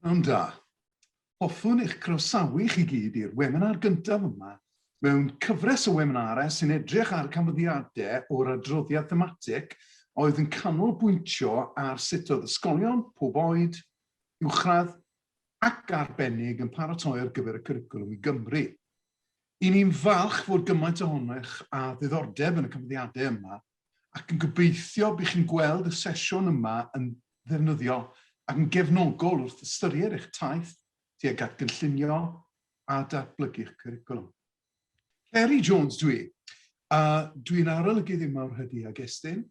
Pnawn da. Hoffwn eich croesawu chi gyd i'r weminar gyntaf yma mewn cyfres o weminarau sy'n edrych ar canfyddiadau o'r adroddiad thematig a oedd yn canolbwyntio ar sut oedd ysgolion pob oed, uwchradd ac arbennig yn paratoi ar gyfer y cwricwlwm i Gymru. Y'n ni'n falch fod gymaint ohonoch â diddordeb yn y canfyddiadau yma ac yn gobeithio bydd chi'n gweld y sesiwn yma yn ddefnyddiol ac yn gefnogol wrth ystyried eich taith tuag at gynllunio a datblygu'ch cwricwlwm. Ceri Jones dwi, a dwi'n arolygydd yma o'r Hydi ag Estyn,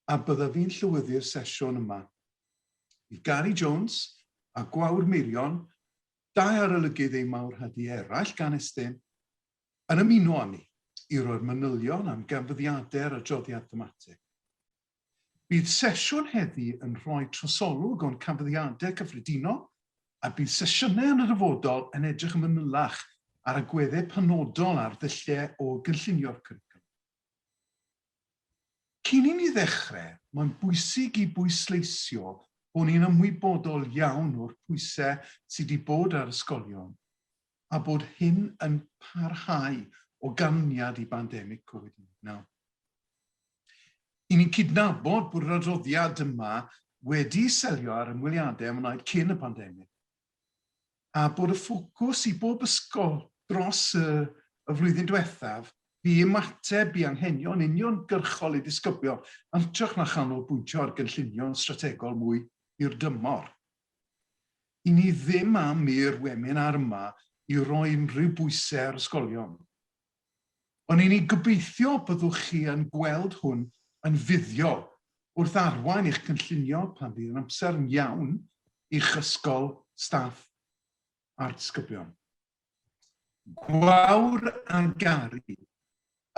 a byddaf fi'n llywyddu'r sesiwn yma. Bydd Gary Jones a Gwawr Meirion, dau arolygydd eu mawr hydi eraill gan Estyn, Yn ymuno â ni i roi'r manylion am ganfyddiadau'r adroddiad thematig. Bydd sesiwn heddi yn rhoi trosolwg o'n canfyddiadau cyffredinol a bydd sesiynau yn y dyfodol yn edrych yn fanylach ar agweddau penodol ar ddulliau o gynllunio'r cwricwlwm. Cyn i ni ddechrau, mae'n bwysig i bwysleisio bod ni'n ymwybodol iawn o'r pwysau sydd wedi bod ar ysgolion a bod hyn yn parhau o ganlyniad i bandemig Covid 19. I ni'n cydnabod bod yr adroddiad yma wedi selio ar ymweliadau a wnaed cyn y pandemig, a bod y ffocws i bob ysgol dros y, y flwyddyn diwethaf fu ymateb i anghenion uniongyrchol ei disgyblion yn hytrach na chanolbwyntio ar gynllunio'n strategol mwy hirdymor. I ni ddim am i'r weminar yma i roi unrhyw bwysau ar ysgolion. Ond i ni gobeithio byddwch chi yn gweld hwn yn fuddiol wrth arwain eich cynllunio pan fydd yn amser iawn i'ch ysgol, staff a'r disgyblion. Gwawr a Gary.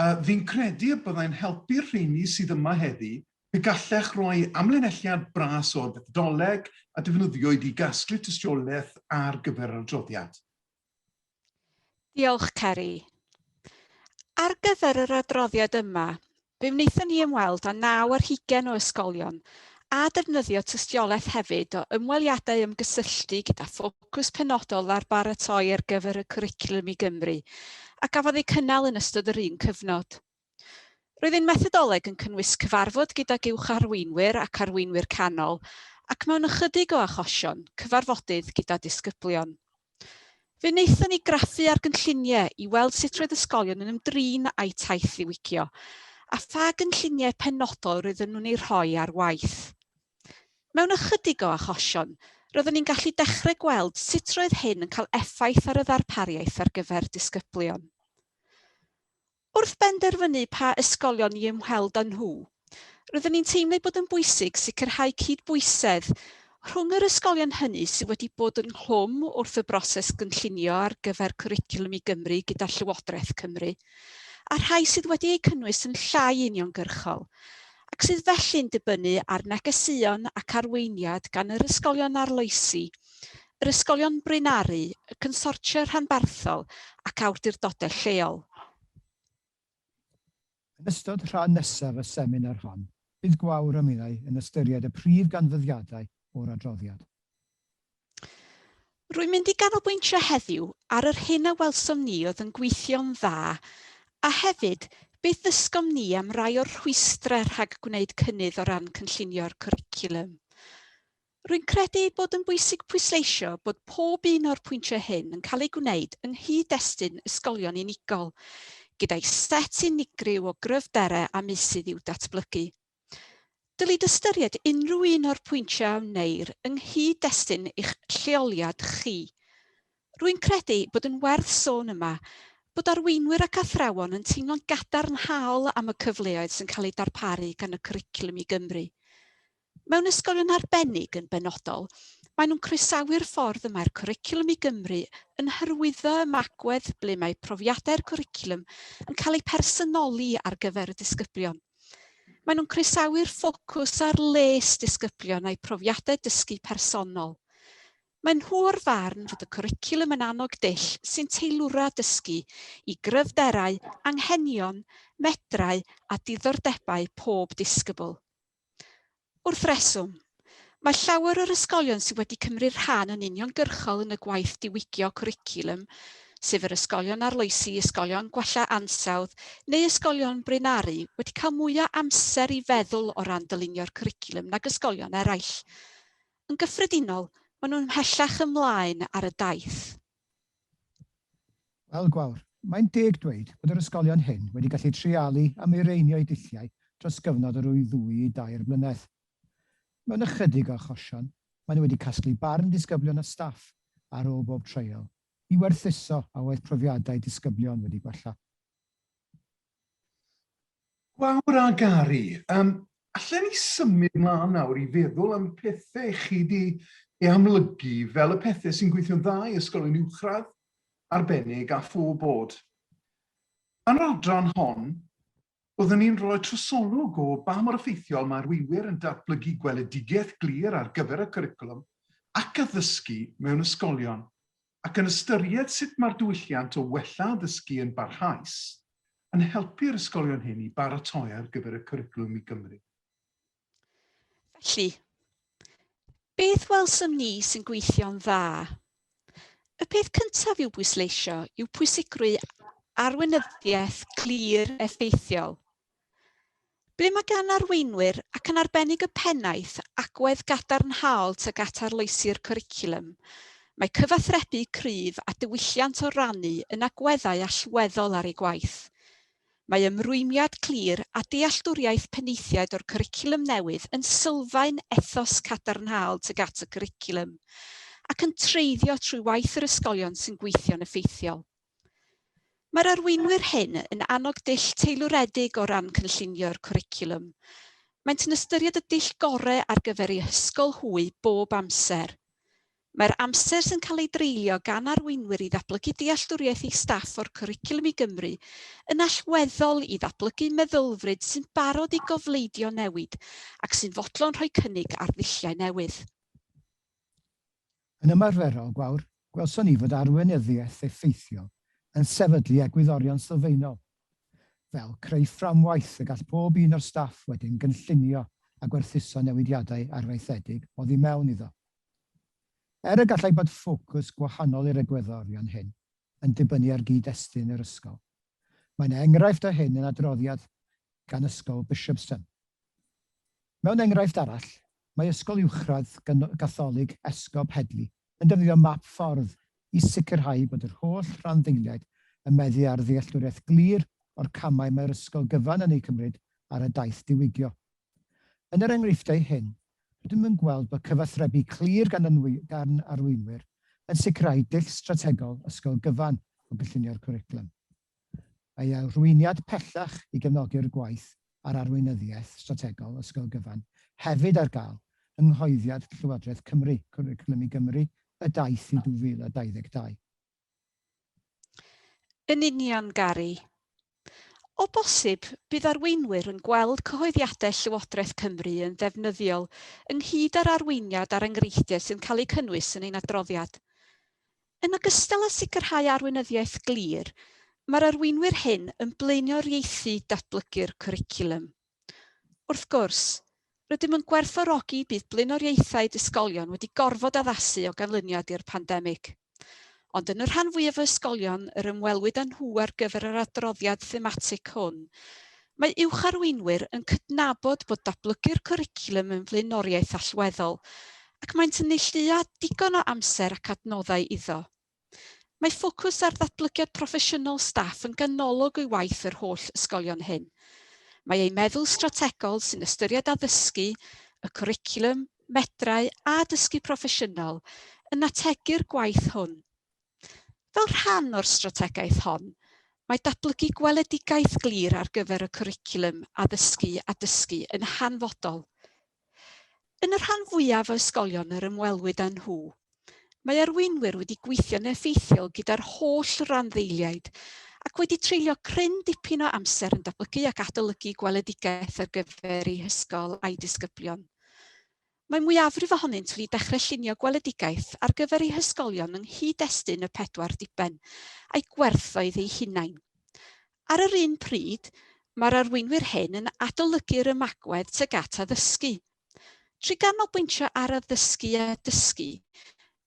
A fi'n credu y byddai'n helpu'r rheini sydd yma heddi pe gallech roi amlinelliad bras o'r fethodoleg a defnyddiwyd i gasglu tystiolaeth ar gyfer yr adroddiad. Diolch, Ceri. Ar gyfer yr adroddiad yma, Fe wnaethon ni ymweld â naw ar hugain o ysgolion, a defnyddio tystiolaeth hefyd o ymweliadau ymgysylltu gyda ffocws penodol ar baratoi ar gyfer y Cwricwlwm i Gymru, a gafodd eu cynnal yn ystod yr un cyfnod. Roedd ein methodoleg yn cynnwys cyfarfod gydag uwch arweinwyr ac arweinwyr canol, ac mewn ychydig o achosion, cyfarfodydd gyda disgyblion. Fe wnaethon ni graffu ar gynlluniau i weld sut roedd ysgolion yn ymdrin â'u taith ddiwygio a pha gynlluniau penodol roedden nhw'n eu rhoi ar waith. Mewn ychydig o achosion, roeddwn ni'n gallu dechrau gweld sut roedd hyn yn cael effaith ar y ddarpariaeth ar gyfer disgyblion. Wrth benderfynu pa ysgolion i ymweld â nhw, roeddwn ni'n teimlo ei bod yn bwysig sicrhau cydbwysedd rhwng yr ysgolion hynny sydd wedi bod ynghlwm wrth y broses gynllunio ar gyfer Cwricwlwm i Gymru gyda Llywodraeth Cymru, a'r rhai sydd wedi eu cynnwys yn llai uniongyrchol, ac sydd felly'n dibynnu ar negeseuon ac arweiniad gan yr ysgolion arloesi yr ysgolion braenaru, y consortia rhanbarthol ac awdurdodau lleol. Yn ystod rhan nesaf y seminar hon, bydd Gwawr a Milay yn ystyried y prif ganfyddiadau o'r adroddiad. Rwy'n mynd i ganolbwyntio heddiw ar yr hyn a welsom ni oedd yn gweithio'n dda a hefyd beth ddysgom ni am rai o'r rhwystrau rhag gwneud cynnydd o ran cynllunio'r cwricwlwm. Rwy'n credu ei bod yn bwysig pwysleisio bod pob un o'r pwyntiau hyn yn cael eu gwneud yng nghyd-destun ysgolion unigol, gyda'i set unigryw o gryfderau a meysydd i'w datblygu. Dylid ystyried unrhyw un o'r pwyntiau a wneir yng nghyd-destun eich lleoliad chi. Rwy'n credu bod yn werth sôn yma bod arweinwyr ac athrawon yn teimlo'n gadarnhaol am y cyfleoedd sy'n cael eu darparu gan y Cwricwlwm i Gymru. Mewn ysgolion arbennig yn benodol, maen nhw'n croesawu'r ffordd y mae'r Cwricwlwm i Gymru yn hyrwyddo ymagwedd ble mae profiadau'r cwricwlwm yn cael eu personoli ar gyfer y disgyblion. Maen nhw'n croesawu'r ffocws ar les disgyblion a'u profiadau dysgu personol. Maen nhw o'r farn fod y cwricwlwm yn annog dull sy'n teilwra dysgu i gryfderau, anghenion, medrau a diddordebau pob disgybl. Wrth reswm, Mae llawer o'r ysgolion sydd wedi cymryd rhan yn uniongyrchol yn y gwaith diwygio cwricwlwm, sef yr ysgolion arloesi, ysgolion gwella ansawdd neu ysgolion Bryn Aru, wedi cael mwyaf amser i feddwl o ran dylunio'r cwricwlwm nag ysgolion eraill. Yn gyffredinol, maen nhw'n mhellach ymlaen ar y daith. Wel, Gwawr, mae'n deg dweud bod yr ysgolion hyn wedi gallu treialu a mireinio'u dulliau dros gyfnod o ryw ddwy i dair mlynedd. Mewn ychydig o achosion, maen nhw wedi casglu barn disgyblion a staff ar ôl bob treial, i werthuso a oedd profiadau disgyblion wedi gwella. Gwawr a Gary, yym, allen ni symud mlan nawr i feddwl am pethe chi 'di ei amlygu fel y pethe sy'n gweithio'n dda i ysgolion uwchradd, arbennig a pho bod. Yn yr adran hon, byddwn ni'n rhoi trosolwg o ba mor effeithiol mae arweinwyr yn datblygu gweledigaeth glir ar gyfer y cwricwlwm ac addysgu mewn ysgolion. ac yn ystyried sut mae'r diwylliant o wella addysgu yn barhaus yn helpu'r ysgolion hyn i baratoi ar gyfer y Cwricwlwm i Gymru. Felly, beth welsom ni sy'n gweithio'n dda? Y peth cyntaf i'w bwysleisio yw pwysigrwydd arweinyddiaeth glir effeithiol. Ble mae gan arweinwyr, ac yn arbennig y pennaeth, agwedd gadarnhaol tuag at arloesi'r cwricwlwm, mae cyfathrebu cryf a diwylliant o rannu yn agweddau allweddol ar eu gwaith. Mae ymrwymiad clir a dealltwriaeth penaethiaid o'r cwricwlwm newydd yn sylfaen ethos cadarnhaol tuag at y cwricwlwm, ac yn treiddio trwy waith yr ysgolion sy'n gweithio'n effeithiol. Mae'r arweinwyr hyn yn annog dull teilwredig o ran cynllunio'r cwricwlwm. Maent yn ystyried y dull gorau ar gyfer eu hysgol hwy bob amser. Mae'r amser sy'n cael ei dreulio gan arweinwyr i ddatblygu dealltwriaeth eu staff o'r cwricwlwm i Gymru yn allweddol i ddatblygu meddylfryd sy'n barod i gofleidio newid ac sy'n fodlon rhoi cynnig ar ddulliau newydd. Yn ymarferol, gwawr, gwelson ni fod arweinyddiaeth effeithiol yn sefydlu egwyddorion sylfaenol, fel creu fframwaith y gall pob un o'r staff wedyn gynllunio a gwerthuso newidiadau arfaethedig oddi mewn iddo. Er y gallai bod ffocws gwahanol i'r egwyddorion hyn, yn dibynnu ar gyd-destun yr ysgol. Mae yna enghraifft o hyn yn adroddiad gan Ysgol Bishopston. Mewn enghraifft arall, mae Ysgol Uwchradd Gatholig Esgob Headley yn defnyddio map ffordd i sicrhau bod yr holl rhanddeiliaid yn meddu ar ddealltwriaeth glir o'r camau mae'r ysgol gyfan yn eu cymryd ar y daith diwygio. Yn yr enghreifftiau hyn, rydym yn gweld bod cyfathrebu clir gan arweinwyr yn sicrhau dull strategol ysgol gyfan o gynllunio'r cwricwlwm. Mae ei arweiniad pellach i gefnogi'r gwaith ar arweinyddiaeth strategol ysgol gyfan hefyd ar gael yng nghoeddiad Llywodraeth Cymru, Cwricwlwm i Gymru, Y Daith i 2022. Yn union, Gary. O bosib, bydd arweinwyr yn gweld cyhoeddiadau Llywodraeth Cymru yn ddefnyddiol, ynghyd â'r arweiniad a'r enghreifftiau sy'n cael eu cynnwys yn ein adroddiad. Yn ogystal â sicrhau arweinyddiaeth glir, mae'r arweinwyr hyn yn blaenoriaethu datblygu'r cwricwlwm. Wrth gwrs, rydym yn gwerthfawrogi bydd blaenoriaethau disgylion wedi gorfod addasu o ganlyniad i'r pandemig. Ond yn y rhan fwyaf o ysgolion yr ymwelwyd â nhw ar gyfer yr adroddiad thematig hwn, mae uwch-arweinwyr yn cydnabod bod datblygu'r cwricwlwm yn flaenoriaeth allweddol ac maent yn neilltuo digon o amser ac adnoddau iddo. Mae ffocws ar ddatblygiad proffesiynol staff yn ganolog o'i waith yr holl ysgolion hyn. Mae ei meddwl strategol sy'n ystyried addysgu, y cwricwlwm, medrau a dysgu proffesiynol yn ategu'r gwaith hwn. Fel rhan o'r strategaeth hon, mae datblygu gweledigaeth glir ar gyfer y cwricwlwm addysgu a dysgu yn hanfodol. Yn y rhan fwyaf o ysgolion yr ymwelwyd â nhw, mae arweinwyr wedi gweithio'n effeithiol gyda'r holl randdeiliaid ac wedi treulio cryn dipyn o amser yn datblygu ac adolygu gweledigaeth ar gyfer eu hysgol a'i disgyblion. Mae mwyafrif ohonynt wedi dechrau llunio gweledigaeth ar gyfer eu hysgolion yng nghyd-destun y pedwar diben, a'i gwerthoedd eu hunain. Ar yr un pryd, mae'r arweinwyr hyn yn adolygu'r ymagwedd tuag at addysgu. Trwy ganolbwyntio ar addysgu a dysgu,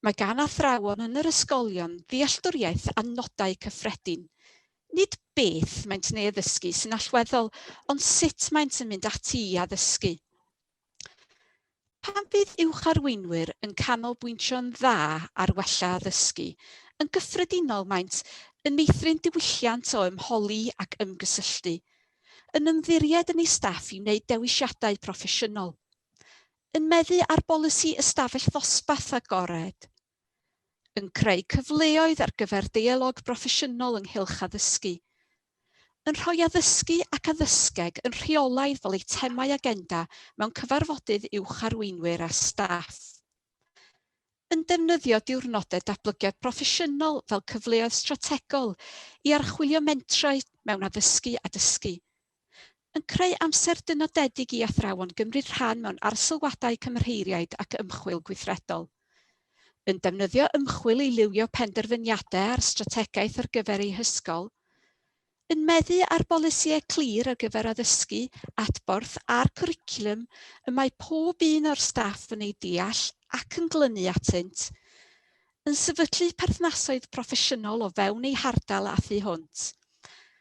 mae gan athrawon yn yr ysgolion ddealltwriaeth a nodau cyffredin, nid beth maent yn ei addysgu sy'n allweddol, ond sut maent yn mynd ati i addysgu. Pan fydd uwch arweinwyr yn canolbwyntio'n dda ar wella addysgu, yn gyffredinol maent yn meithrin diwylliant o ymholi ac ymgysylltu, yn ymddiried yn eu staff i wneud dewisiadau proffesiynol, yn meddu ar bolisi ystafell ddosbarth agored, yn creu cyfleoedd ar gyfer deialog broffesiynol ynghylch addysgu, yn rhoi addysgu ac addysgeg yn rheolaidd fel eitemau agenda mewn cyfarfodydd uwch arweinwyr a staff, yn defnyddio diwrnodau datblygiad proffesiynol fel cyfleoedd strategol i archwilio mentrau mewn addysgu a dysgu, Yn creu amser dynodedig i athrawon gymryd rhan mewn arsylwadau cymheiriaid ac ymchwil gweithredol. Yn defnyddio ymchwil i liwio penderfyniadau ar strategaeth ar gyfer eu hysgol. Yn meddu ar bolisïau clir ar gyfer addysgu, adborth a'r cwricwlwm y mae pob un o'r staff yn ei deall ac yn glynu atynt. yn sefydlu perthnasoedd proffesiynol o fewn eu hardal a thu hwnt,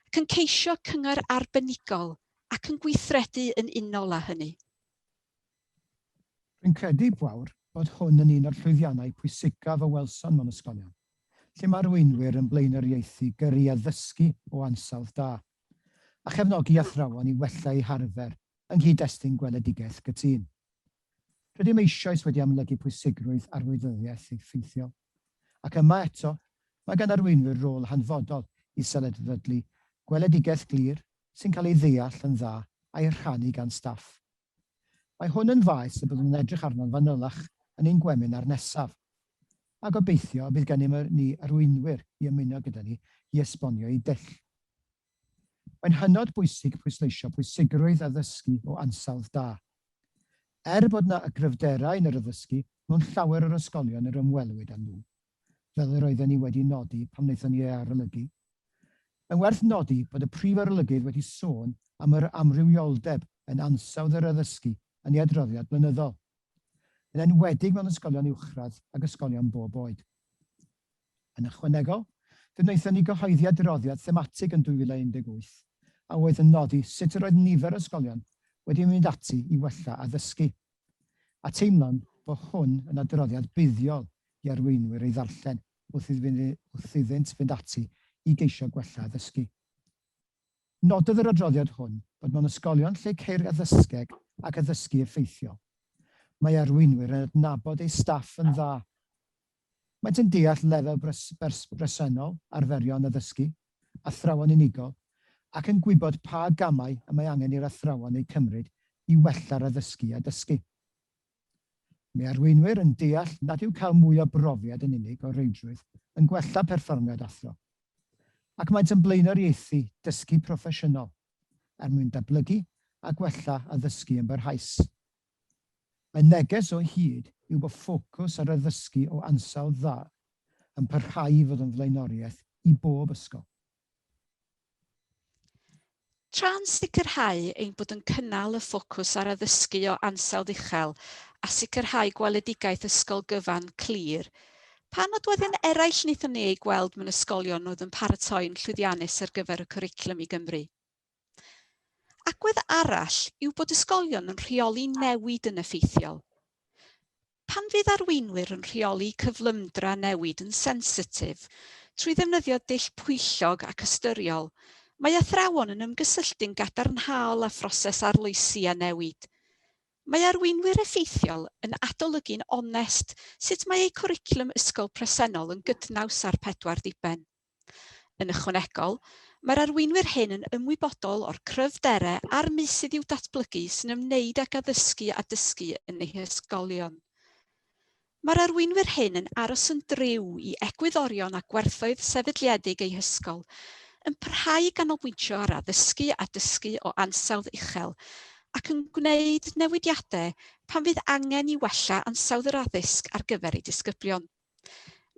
ac yn ceisio cyngor arbenigol ac yn gweithredu yn unol â hynny. Rwy'n credu, Gwawr, bod hwn yn un o'r llwyddiannau pwysicaf y welsom mewn ysgolion, lle mae arweinwyr yn blaenoriaethu gyrru addysgu o ansawdd da, a chefnogi athrawon i wella eu harfer yng nghyd-destun gweledigaeth gytûn. Rydym eisoes wedi amlygu pwysigrwydd arweinyddiaeth effeithiol, ac yma eto, mae gan arweinwyr rôl hanfodol i sefydlu gweledigaeth glir sy'n cael ei ddeall yn dda a'i rhannu gan staff. Mae hwn yn faes y byddwn yn edrych arno'n fanylach yn ein gweminar nesaf, a gobeithio y bydd gennym ni arweinwyr i ymuno gyda ni i esbonio eu dull. Mae'n hynod bwysig pwysleisio pwysigrwydd addysgu o ansawdd da. Er bod yna y gryfderau yn yr addysgu mewn llawer o'r ysgolion yr ymwelwyd â nhw, fel yr oedden ni wedi nodi pan wnaethon ni ei arolygu, mae'n werth nodi bod y Prif Arolygydd wedi sôn am yr amrywioldeb yn ansawdd yr addysgu yn ei adroddiad blynyddol, yn enwedig mewn ysgolion uwchradd ac ysgolion bob oed. Yn ychwanegol, fe wnaethon ni gyhoeddi adroddiad thematig yn 2018 a oedd yn nodi sut yr oedd nifer o ysgolion wedi mynd ati i wella addysgu, a teimlwn bo hwn yn adroddiad buddiol i arweinwyr ei ddarllen wrth iddynt fynd ati i geisio gwella addysgu. Nododd yr adroddiad hwn bod mewn ysgolion lle ceir addysgeg ac addysgu effeithiol, mae arweinwyr yn adnabod eu staff yn dda, Maent yn deall lefel bresennol arferion addysgu athrawon unigol ac yn gwybod pa gamau y mae angen i'r athrawon eu cymryd i wella'r addysgu a dysgu. Mae arweinwyr yn deall nad yw cael mwy o brofiad yn unig o reidrwydd yn gwella perfformiad athro, ac maent yn blaenoriaethu dysgu proffesiynol er mwyn datblygu a gwella addysgu yn barhaus. Y neges o hyd yw bod ffocws ar addysgu o ansawdd dda yn parhau i fod yn flaenoriaeth i bob ysgol. Tra'n sicrhau ein bod yn cynnal y ffocws ar addysgu o ansawdd uchel a sicrhau gweledigaeth ysgol gyfan, clir, pa nodweddion eraill wnaethon ni eu gweld mewn ysgolion oedd yn paratoi'n llwyddiannus ar gyfer y Cwricwlwm i Gymru? Agwedd arall yw bod ysgolion yn rheoli newid yn effeithiol. Pan fydd arweinwyr yn rheoli cyflymdra newid yn sensitif trwy ddefnyddio dull pwyllog ac ystyriol, mae athrawon yn ymgysylltu'n gadarnhaol â phroses arloesi a newid. Mae arweinwyr effeithiol yn adolygu'n onest sut mae eu cwricwlwm ysgol presennol yn gydnaws â'r pedwar diben. Yn ychwanegol, mae'r arweinwyr hyn yn ymwybodol o'r cryfderau a'r meysydd i'w datblygu sy'n ymwneud ag addysgu a dysgu yn eu hysgolion. Mae'r arweinwyr hyn yn aros yn driw i egwyddorion a gwerthoedd sefydliedig eu hysgol, yn parhau i ganolbwyntio ar addysgu a dysgu o ansawdd uchel, ac yn gwneud newidiadau pan fydd angen i wella ansawdd yr addysg ar gyfer eu disgyblion.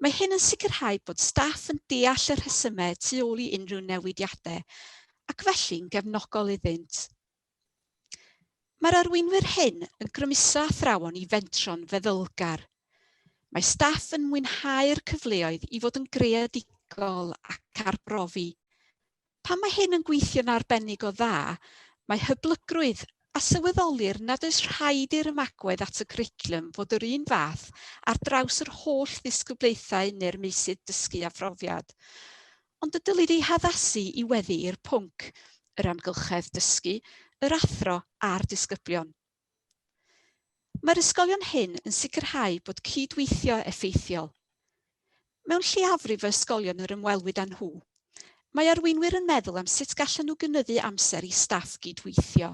Mae hyn yn sicrhau bod staff yn deall y rhesymau tu ôl i unrhyw newidiadau ac felly'n gefnogol iddynt. Mae'r arweinwyr hyn yn grymuso athrawon i fentro'n feddylgar. Mae staff yn mwynhau'r cyfleoedd i fod yn greadigol ac arbrofi, Pan mae hyn yn gweithio'n arbennig o dda, mae hyblygrwydd a sylweddolir nad oes rhaid i'r ymagwedd at y cwricwlwm fod yr un fath ar draws yr holl ddisgyblaethau neu'r meysydd dysgu a phrofiad. Ond y dylid ei haddasu i weddu i'r pwnc, yr amgylchedd dysgu, yr athro a'r disgyblion. Mae'r ysgolion hyn yn sicrhau bod cydweithio effeithiol. Mewn lleiafrif o ysgolion yr ymwelwyd â nhw, mae arweinwyr yn meddwl am sut gallan nhw gynyddu amser i staff gydweithio.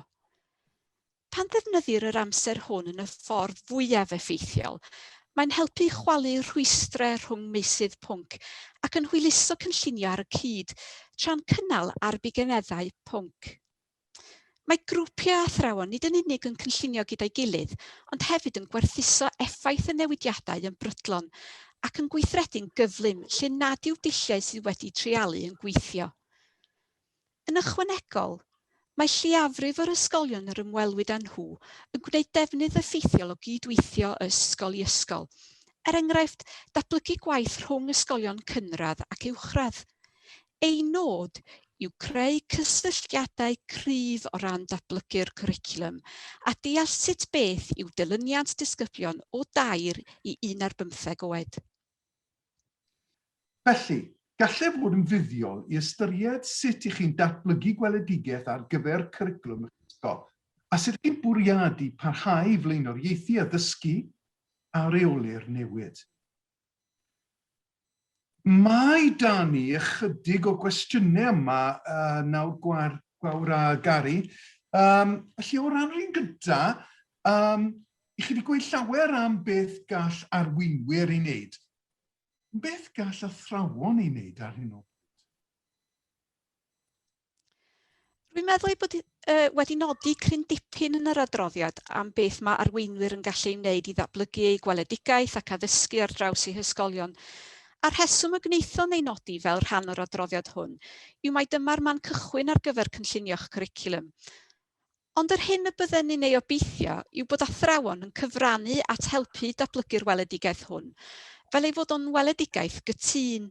Pan ddefnyddir yr amser hwn yn y ffordd fwyaf effeithiol, mae'n helpu i chwalu rhwystrau rhwng meysydd pwnc ac yn hwyluso cynllunio ar y cyd, tra'n cynnal ar bugeneddau pwnc. Mae grwpiau athrawon nid yn unig yn cynllunio gyda'i gilydd, ond hefyd yn gwerthuso effaith y newidiadau yn brydlon ac yn gweithredu'n gyflym lle nad yw dulliau sydd wedi treialu yn gweithio. Yn ychwanegol, mae lleiafrif yr ysgolion yr ymwelwyd â nhw yn gwneud defnydd effeithiol o gyd-weithio o ysgol i ysgol, er enghraifft, datblygu gwaith rhwng ysgolion cynradd ac uwchradd. Ein nod yw creu cysylltiadau cryf o ran datblygu'r cwricwlwm a deall sut beth yw dilyniant disgyblion o dair i un ar bymtheg oed. Felly, gallai fod yn fuddiol i ystyried sut y'ch chi'n datblygu gweledigaeth ar gyfer cwricwlwm y'ch ysgol, a sut y'ch chi'n bwriadu parhau i flaenoriaethu addysgu a reoli'r newid. Mae 'da ni ychydig o gwestiynau yma nawr Gwawr, Gwawr a Gary. Um, felly o ran yr un gyda, um, i chi wedi gweud llawer am beth gall arweinwyr ei wneud. Beth gall athrawon ei wneud ar hyn o bryd? Rwy'n meddwl ei bod uh, wedi nodi cryn dipyn yn yr adroddiad am beth mae arweinwyr yn gallu ei wneud i ddatblygu eu gweledigaeth ac addysgu ar draws eu hysgolion. A'r rheswm y gwnaethon ei nodi fel rhan o'r adroddiad hwn yw mae dyma'r man cychwyn ar gyfer cynllunio'ch cwricwlwm. Ond yr hyn y bydden ni'n ei obeithio yw bod athrawon yn cyfrannu at helpu datblygu'r weledigaeth hwn, fel ei fod o'n weledigaeth gytûn.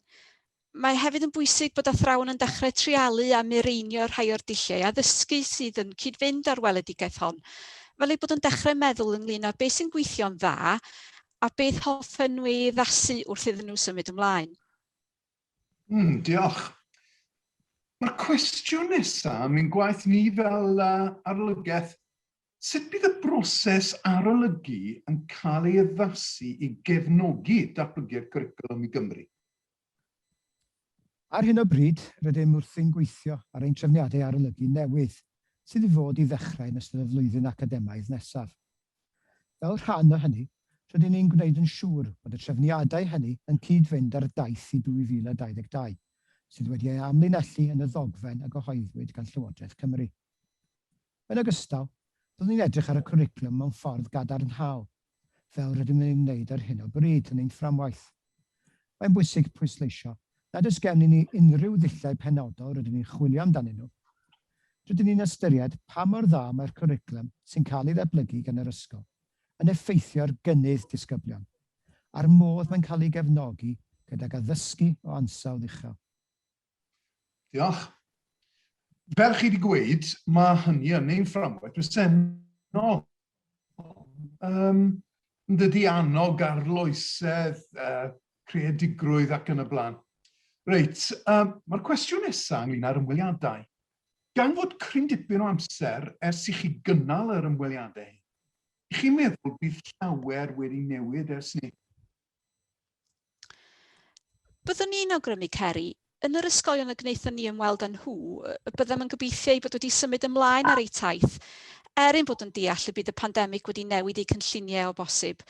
Mae hefyd yn bwysig bod athrawon yn dechrau treialu a mireinio rhai o'r dulliau addysgu sydd yn cyd-fynd â'r weledigaeth hon, fel eu bod yn dechrau meddwl ynglŷn â beth sy'n gweithio'n dda a beth hoffen nhw ei addasu wrth iddyn nhw symud ymlaen. Mm, diolch. Mae'r cwestiwn nesaf yn mynd gwaith ni fel uh, arolygaeth. Sut bydd y broses arolygu yn cael ei addasu i gefnogi datblygiad cwricwlwm i Gymru? Ar hyn o bryd, rydym wrthi'n gweithio ar ein trefniadau arolygu newydd, sydd i fod i ddechrau yn ystod y flwyddyn academaidd nesaf. Fel rhan o hynny, rydyn ni'n gwneud yn siŵr bod y trefniadau hynny yn cyd-fynd â'r daith i 2022, sydd wedi ei amlinellu yn y ddogfen a gyhoeddwyd gan Llywodraeth Cymru. Yn ogystal, byddwn ni'n edrych ar y cwricwlwm mewn ffordd gadarnhaol, fel rydym yn ei wneud ar hyn o bryd yn ein fframwaith. Mae'n bwysig pwysleisio nad oes gennym ni unrhyw ddulliau penodol rydyn ni'n chwilio amdanyn nhw. Rydyn ni'n ystyried pa mor dda mae'r cwricwlwm sy'n cael ei ddatblygu gan yr ysgol yn effeithio ar gynnydd disgyblion, a'r modd mae'n cael ei gefnogi gydag addysgu o ansawdd uchel. Diolch. Fel chi wedi gweud, mae hynny yn ein fframwaith presennol. Um, dydy annog arloesedd, uh, creadigrwydd ac yn y blaen. Reit, um, mae'r cwestiwn nesaf ynglyn â'r ymweliadau. Gan fod cryn dipyn o amser ers i chi gynnal yr ymweliadau, i chi'n meddwl bydd llawer wedi newid ers ni? Byddwn ni'n awgrymu, Ceri, yn yr ysgolion y gwnaethon ni ymweld â nhw, y byddem yn gobeithio eu bod wedi symud ymlaen ar eu taith, er ein bod yn deall y bydd y pandemig wedi newid eu cynlluniau o bosib.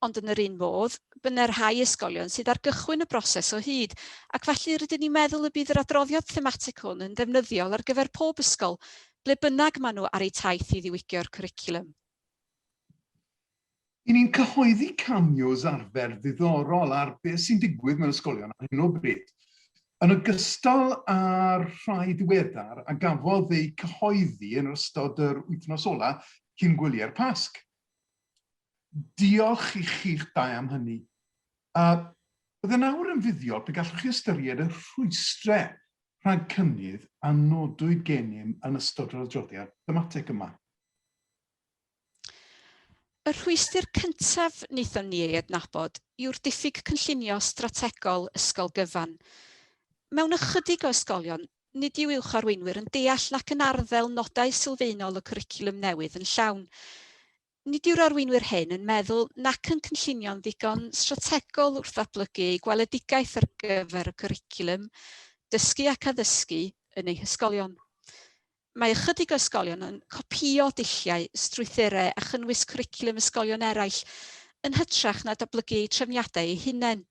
Ond yn yr un modd, byddne rhai ysgolion sydd ar gychwyn y broses o hyd, ac felly rydyn ni'n meddwl y bydd yr adroddiad thematig hwn yn ddefnyddiol ar gyfer pob ysgol, ble bynnag maen nhw ar eu taith i ddiwygio'r cwricwlwm. Y'n ni'n cyhoeddi cameos arfer ddiddorol ar beth sy'n digwydd mewn ysgolion ar hyn o bryd. Yn ogystal â'r rhai ddiweddar a gafodd eu cyhoeddi yn ystod yr wythnos ola cyn gwyliau'r Pasg. Diolch i chi'ch dau am hynny. A bydde nawr yn fuddiol pe gallwch chi ystyried y rhwystrau rhag cynnydd a nodwyd gennym yn ystod yr adroddiad thematig yma. Y rhwystr cyntaf wnaethon ni ei adnabod yw'r diffyg cynllunio strategol ysgol gyfan. Mewn ychydig o ysgolion, nid yw uwch arweinwyr yn deall nac yn arddel nodau sylfaenol y cwricwlwm newydd yn llawn. Nid yw'r arweinwyr hyn yn meddwl nac yn cynllunio'n ddigon strategol wrth ddatblygu eu gweledigaeth ar gyfer y cwricwlwm dysgu ac addysgu yn eu hysgolion. Mae ychydig o ysgolion yn copïo dulliau, strwythurau a chynnwys cwricwlwm ysgolion eraill yn hytrach na datblygu eu trefniadau eu hunain.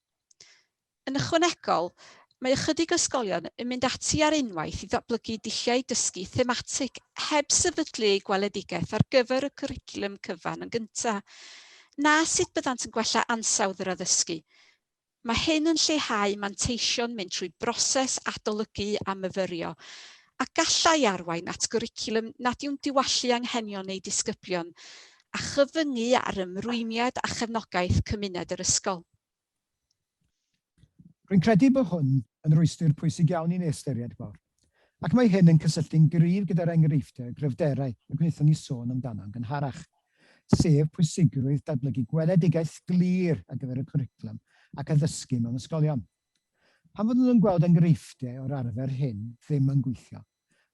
Yn ychwanegol, mae ychydig o ysgolion yn mynd ati ar unwaith i ddatblygu dulliau dysgu thematig heb sefydlu eu gweledigaeth ar gyfer y cwricwlwm cyfan yn gyntaf, na sut byddant yn gwella ansawdd yr addysgu. Mae hyn yn lleihau manteision mynd trwy broses adolygu a myfyrio, a gallai arwain at gwricwlwm nad yw'n diwallu anghenion eu disgyblion, a chyfyngu ar ymrwymiad a chefnogaeth cymuned yr ysgol. Rwy'n credu bod hwn yn rwystr pwysig iawn i ni ystyried, Gwawr. ac mae hyn yn cysylltu'n gryf gyda'r enghreifftiau gryfderau y gwnaethon ni sôn amdano'n gynharach, sef pwysigrwydd datblygu gweledigaeth glir ar gyfer y cwricwlwm ac addysgu mewn ysgolion. Pan fyddwn yn gweld enghreifftiau o'r arfer hyn ddim yn gweithio,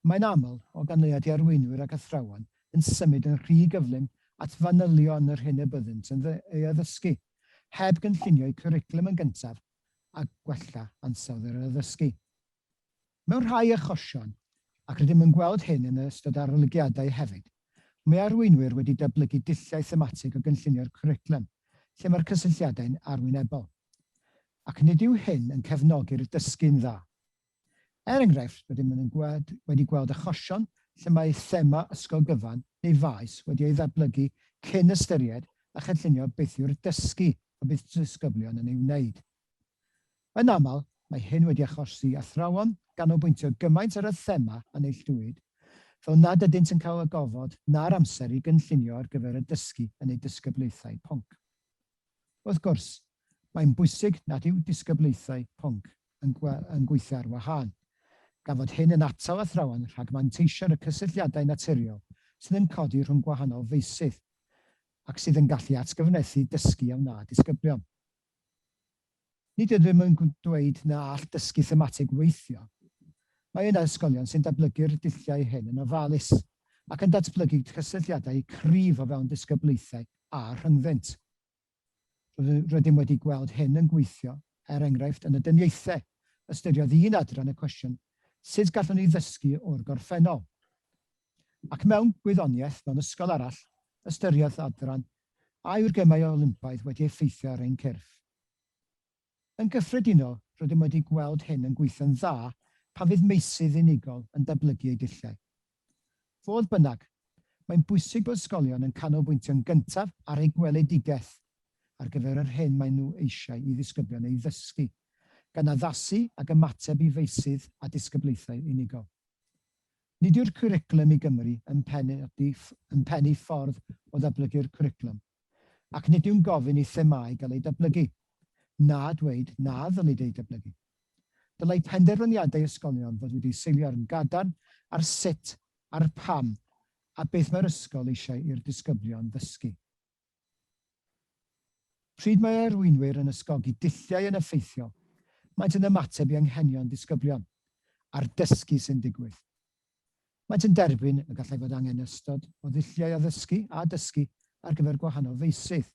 mae'n aml, o ganlyniad i arweinwyr ac athrawon yn symud yn rhy gyflym at fanylion yr hyn y byddynt yn ei addysgu, heb gynllunio'u cwricwlwm yn gyntaf a gwella ansawdd yr addysgu. Mewn rhai achosion, ac rydym yn gweld hyn yn ystod arolygiadau hefyd, mae arweinwyr wedi datblygu dulliau thematig o gynllunio'r cwricwlwm lle mae'r cysylltiadau'n arwynebol, ac nid yw hyn yn cefnogi'r dysgu'n dda. Er enghraifft, rydym yn wedi gweld achosion lle mae thema ysgol gyfan neu faes wedi ei ddatblygu cyn ystyried a chynllunio beth yw'r dysgu y bydd disgyblion yn ei wneud. Yn aml, mae hyn wedi achosi athrawon ganolbwyntio gymaint ar y thema a neilltuwyd, fel nad ydynt yn cael y gofod na'r amser i gynllunio ar gyfer y dysgu yn eu disgyblaethau pwnc. Wrth gwrs, mae'n bwysig nad yw disgyblaethau pwnc yn gweithio ar wahân, gan fod hyn yn atal athrawon rhag manteisio ar y cysylltiadau naturiol sydd yn codi rhwng gwahanol feysydd ac sydd yn gallu atgyfnerthu dysgu a wna disgyblion. Nid ydym yn dweud na all dysgu thematig weithio. Mae yna ysgolion sy'n datblygu'r dulliau hyn yn ofalus ac yn datblygu cysylltiadau cryf o fewn disgyblaethau a rhyngddynt. Rydym wedi gweld hyn yn gweithio, er enghraifft, yn y dyniaethau. Ystyriodd un adran y cwestiwn 'Sut gallwn ni ddysgu o'r gorffennol? ac mewn gwyddoniaeth mewn ysgol arall, ystyriodd adran A yw'r Gemau Olympaidd wedi effeithio ar ein cyrff? Yn gyffredinol, rydym wedi gweld hyn yn gweithio'n dda pan fydd meysydd unigol yn datblygu eu dulliau. Fodd bynnag, mae'n bwysig bod ysgolion yn canolbwyntio'n gyntaf ar eu gweledigaeth ar gyfer yr hyn maen nhw eisiau i ddisgyblion ei ddysgu, gan addasu ag ymateb i feysydd a disgyblaethau unigol. Nid yw'r cwricwlwm i Gymru yn pennu ffordd o ddatblygu'r cwricwlwm, ac nid yw'n gofyn i themâu gael eu datblygu, na dweud na ddylid eu datblygu. Dylai penderfyniadau ysgolion fod wedi seilio ar yn gadarn ar sut, a'r pam, a beth mae'r ysgol eisiau i'r disgyblion ddysgu. Pryd mae arweinwyr yn ysgogi dulliau yn effeithiol, maent yn ymateb i anghenion disgyblion, a'r dysgu sy'n digwydd. Maent yn derbyn y gallai fod angen ystod o ddulliau addysgu a dysgu ar gyfer gwahanol feysydd.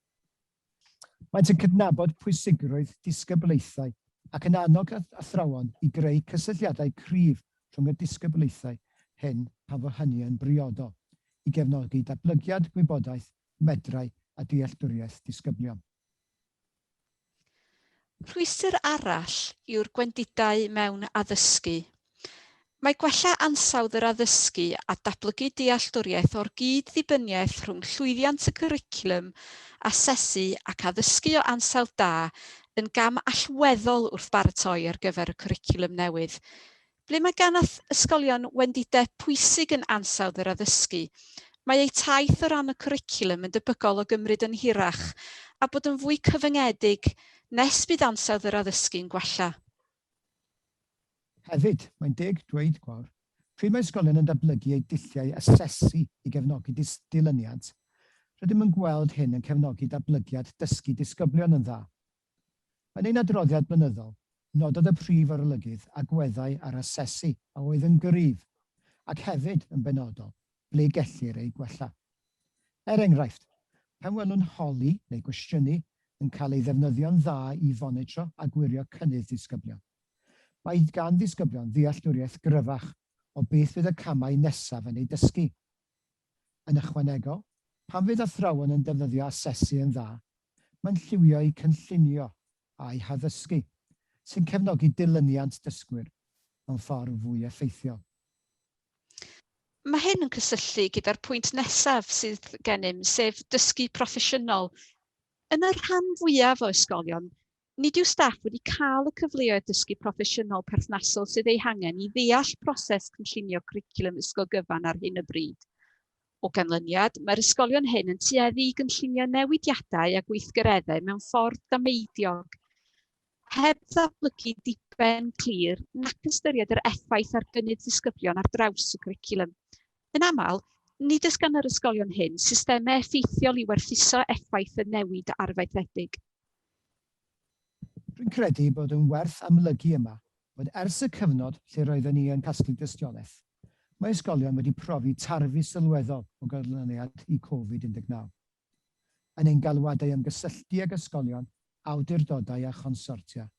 Maent yn cydnabod pwysigrwydd disgyblaethau ac yn annog athrawon i greu cysylltiadau cryf rhwng y disgyblaethau hyn pan fo hynny yn briodol, i gefnogi datblygiad gwybodaeth medrau a dealltwriaeth disgyblion. Rhwystr arall yw'r gwendidau mewn addysgu. Mae gwella ansawdd yr addysgu a datblygu dealltwriaeth o'r gyd-ddibyniaeth rhwng llwyddiant y cwricwlwm asesu ac addysgu o ansawdd da yn gam allweddol wrth baratoi ar gyfer y cwricwlwm newydd. Ble mae gan ysgolion wendidau pwysig yn ansawdd yr addysgu, mae eu taith o ran y cwricwlwm yn debygol o gymryd yn hirach a bod yn fwy cyfyngedig nes bydd ansawdd yr addysgu'n gwella. Hefyd, mae'n deg dweud gwawr, pryd mae ysgolion yn datblygu eu dulliau asesu i gefnogi dilyniant, rydym yn gweld hyn yn cefnogi datblygiad dysgu disgyblion yn dda. Yn ein adroddiad blynyddol, nododd y Prif Arolygydd agweddau ar asesu a oedd yn gryf, ac hefyd, yn benodol, ble gellir eu gwella. Er enghraifft, pan welwn holi neu gwestiynu yn cael ei ddefnyddio'n dda i fonitro a gwirio cynnydd disgyblion, mae gan ddisgyblion ddealltwriaeth gryfach o beth fydd y camau nesaf yn eu dysgu Yn ychwanegol, pan fydd athrawon yn defnyddio asesu yn dda, mae'n lliwio'u cynllunio a'u haddysgu, sy'n cefnogi dilyniant dysgwyr mewn ffordd fwy effeithiol. Mae hyn yn cysylltu gyda'r pwynt nesaf sydd gennym, sef dysgu proffesiynol. Yn y rhan fwyaf o ysgolion, Nid yw staff wedi cael y cyfleoedd dysgu proffesiynol perthnasol sydd eu hangen i ddeall proses cynllunio cwricwlwm ysgol gyfan ar hyn o bryd. O ganlyniad, mae'r ysgolion hyn yn tueddu i gynllunio newidiadau a gweithgareddau mewn ffordd dameidiog, heb ddatblygu diben clir nac ystyried yr effaith ar gynnydd disgyblion ar draws y cwricwlwm. Yn aml, nid oes gan yr ysgolion hyn systemau effeithiol i werthuso effaith y newid arfaethedig. Rwy'n credu bod yn werth amlygu yma bod ers y cyfnod lle roedden ni yn casglu dystiolaeth, mae ysgolion wedi profi tarfu sylweddol o ganlyniad i Covid 19. Yn ein galwadau am gysylltu ag ysgolion, awdurdodau a chonsortia,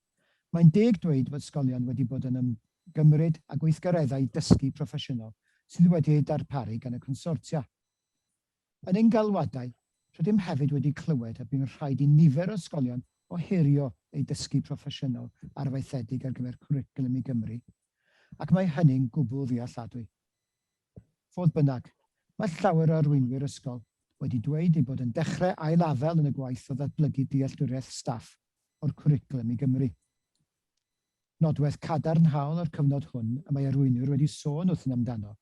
mae'n deg dweud bod ysgolion wedi bod yn ymgymryd â gweithgareddau dysgu proffesiynol sydd wedi eu darparu gan y consortia. Yn ein galwadau, rydym hefyd wedi clywed y bu'n rhaid i nifer o ysgolion ohirio eu dysgu proffesiynol arfaethedig ar gyfer Cwricwlwm i Gymru, ac mae hynny'n gwbl ddealladwy. Fodd bynnag, mae llawer o arweinwyr ysgol wedi dweud eu bod yn dechrau ail-afael yn y gwaith o ddatblygu dealltwriaeth staff o'r Cwricwlwm i Gymru. Nodwedd cadarnhaol o'r cyfnod hwn y mae arweinwyr wedi sôn wrthym amdano,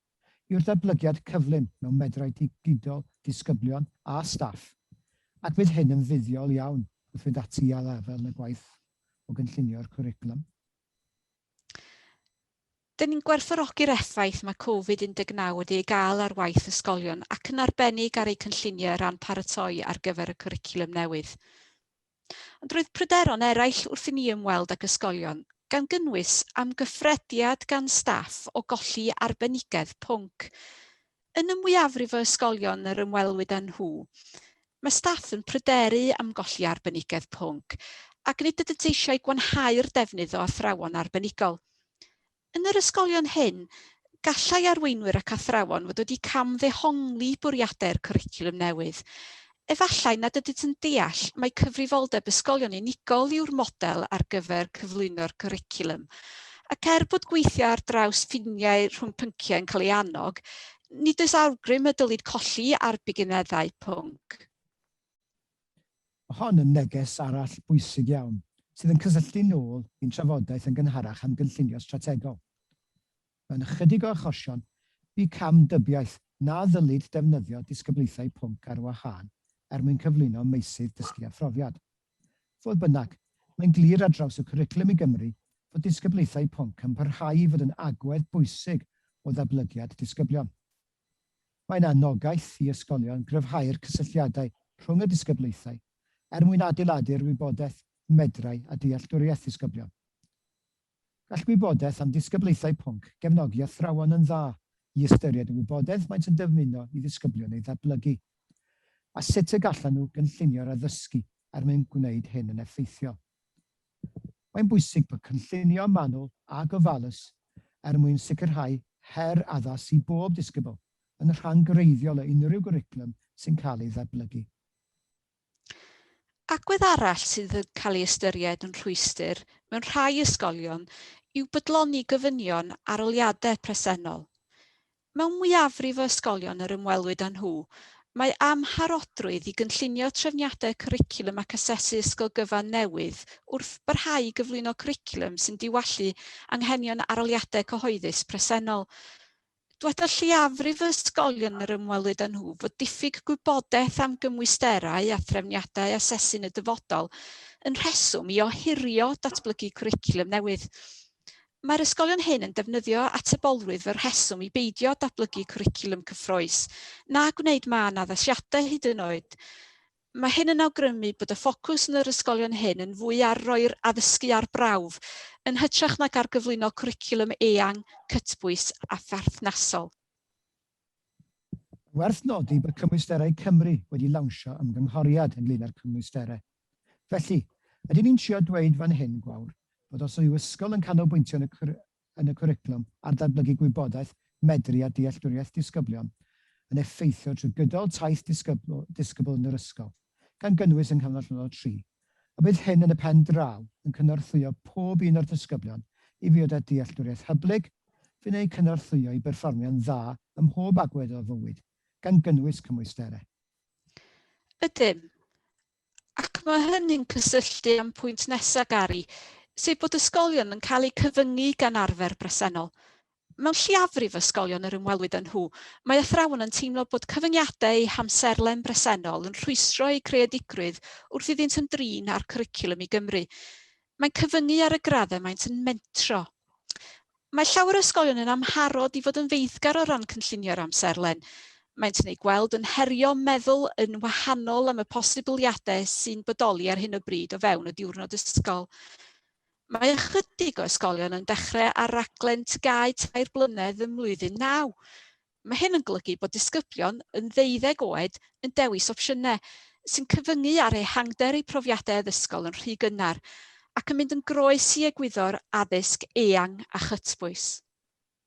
yw'r datblygiad cyflym mewn medrau digidol disgyblion a staff, ac bydd hyn yn fuddiol iawn wrth fynd ati i ail-afael yn y gwaith o gynllunio'r cwricwlwm. Dyn ni'n gwerthfawrogi'r effaith mae Covid 19 wedi ei gael ar waith ysgolion ac yn arbennig ar eu cynlluniau o ran paratoi ar gyfer y cwricwlwm newydd. Ond roedd pryderon eraill wrth i ni ymweld ag ysgolion, gan gynnwys amgyffrediad gan staff o golli arbenigedd pwnc. Yn y mwyafrif o ysgolion yr ymwelwyd â nhw, mae staff yn pryderu am golli arbenigedd pwnc ac nid ydynt eisiau gwanhau'r defnydd o athrawon arbenigol. Yn yr ysgolion hyn, gallai arweinwyr ac athrawon fod wedi cam-ddehongli bwriadau'r cwricwlwm newydd. Efallai nad ydynt yn deall mai cyfrifoldeb ysgolion unigol yw'r model ar gyfer cyflwyno'r cwricwlwm. Ac er bod gweithio ar draws ffiniau rhwng pynciau yn cael ei annog, nid oes awgrym y dylid colli ar bigineddau pwnc. Mae hon yn neges arall bwysig iawn, sydd yn cysylltu nôl i'n trafodaeth yn gynharach am gynllunio strategol. Mewn ychydig o achosion, bu cam dybiaeth na ddylid defnyddio disgyblaethau pwnc ar wahân er mwyn cyflwyno meysydd dysgu a phrofiad. Fodd bynnag, mae'n glir ar draws y Cwricwlwm i Gymru fod disgyblaethau pwnc yn parhau i fod yn agwedd bwysig o ddatblygiad disgyblion. Mae'n anogaeth i ysgolion gryfhau'r cysylltiadau rhwng y disgyblaethau er mwyn adeiladu'r wybodaeth medrai a dealltwriaeth ddisgyblion. Gall gwybodaeth am ddisgyblaethau pwnc gefnogi athrawon yn dda i ystyried y wybodaeth maent yn dyfmuno i ddisgyblion ei ddatblygu, a sut y gallan nhw gynllunio'r addysgu er mwyn gwneud hyn yn effeithiol. Mae'n bwysig bod cynllunio manwl a gofalus er mwyn sicrhau her addas i bob disgybl yn rhan greiddiol o unrhyw gwricwlwm sy'n cael ei ddatblygu. Agwedd arall sydd yn cael ei ystyried yn rhwystr mewn rhai ysgolion yw bydloni gofynion arholiadau presennol. Mewn mwyafrif o ysgolion yr ymwelwyd â nhw, mae amharodrwydd i gynllunio trefniadau cwricwlwm ac asesu ysgol gyfan newydd wrth barhau i gyflwyno cwricwlwm sy'n diwallu anghenion arholiadau cyhoeddus presennol. Dyweda lleiafrif o ysgolion yr ymwelwyd â nhw fod diffyg gwybodaeth am gymwysterau a threfniadau asesu yn y dyfodol yn rheswm i ohirio datblygu cwricwlwm newydd. Mae'r ysgolion hyn yn defnyddio atebolrwydd fel rheswm i beidio datblygu cwricwlwm cyffrous, na gwneud mân addasiadau hyd yn oed. Mae hyn yn awgrymu bod y ffocws yn yr ysgolion hyn yn fwy ar roi'r addysgu ar brawf, yn hytrach nag ar gyflwyno cwricwlwm eang, cytbwys a pherthnasol. Mae'n werth nodi bod Cymwysterau Cymru wedi lawnsio ymgynghoriad ynglŷn â'r cymwysterau. Felly, ydyn ni'n trio dweud fan hyn, Gwawr, bod os yw ysgol yn canolbwyntio yn y cwricwlwm ar ddatblygu gwybodaeth, medru a dealltwriaeth disgyblion, yn effeithio trwy gydol taith disgybl yn yr ysgol, gan gynnwys yng nghanol llynnoedd tri, a bydd hyn yn y pen draw yn cynorthwyo pob un o'r disgyblion i fod â dealltwriaeth hyblyg sy'n eu cynorthwyo i berfformio'n dda ym mhob agwedd o'r fywyd, gan gynnwys cymwysterau. Ydym, ac mae hynny'n cysylltu â'n pwynt nesaf, Gary, sef bod ysgolion yn cael eu cyfyngu gan arfer bresennol, Mewn lleiafrif ysgolion yr ymwelwyd â nhw, mae athrawon yn teimlo bod cyfyngiadau eu hamserlen bresennol yn rhwystro eu creadigrwydd wrth iddynt ymdrin â'r cwricwlwm i Gymru. Mae'n cyfyngu ar y graddau maent yn mentro. Mae llawer o ysgolion yn amharod i fod yn feiddgar o ran cynllunio'r amserlen. Maent yn ei gweld yn herio meddwl yn wahanol am y posibiliadau sy'n bodoli ar hyn o bryd o fewn y diwrnod ysgol. Mae ychydig o ysgolion yn dechrau ar raglen TGAU tair blynedd ym mlwyddyn naw. Mae hyn yn golygu bod disgyblion yn ddeuddeg oed yn dewis opsiynau sy'n cyfyngu ar ehangder eu profiadau addysgol yn rhy gynnar ac yn mynd yn groes i egwyddor addysg eang a chytbwys.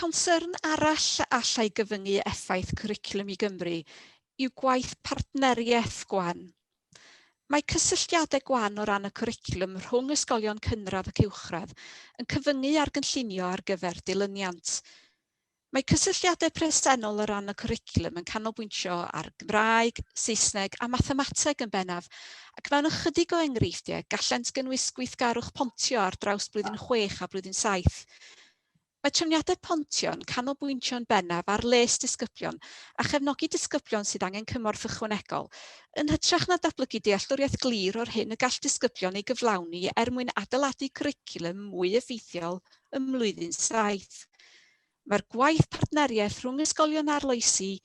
Concern arall a allai gyfyngu effaith Cwricwlwm i Gymru yw gwaith partneriaeth gwan. Mae cysylltiadau gwan o ran y cwricwlwm rhwng ysgolion cynradd ac uwchradd yn cyfyngu ar gynllunio ar gyfer dilyniant. Mae cysylltiadau presennol o ran y cwricwlwm yn canolbwyntio ar Gymraeg, Saesneg a Mathemateg yn bennaf, ac mewn ychydig o enghreifftiau gallent gynnwys gweithgarwch pontio ar draws blwyddyn chwech a blwyddyn saith. Mae trefniadau pontio yn canolbwyntio yn bennaf ar les disgyblion a chefnogi disgyblion sydd angen cymorth ychwanegol, yn hytrach na datblygu dealltwriaeth glir o'r hyn y gall disgyblion ei gyflawni er mwyn adeiladu cwricwlwm mwy effeithiol ym mlwyddyn saith. Mae'r gwaith partneriaeth rhwng ysgolion arloesi,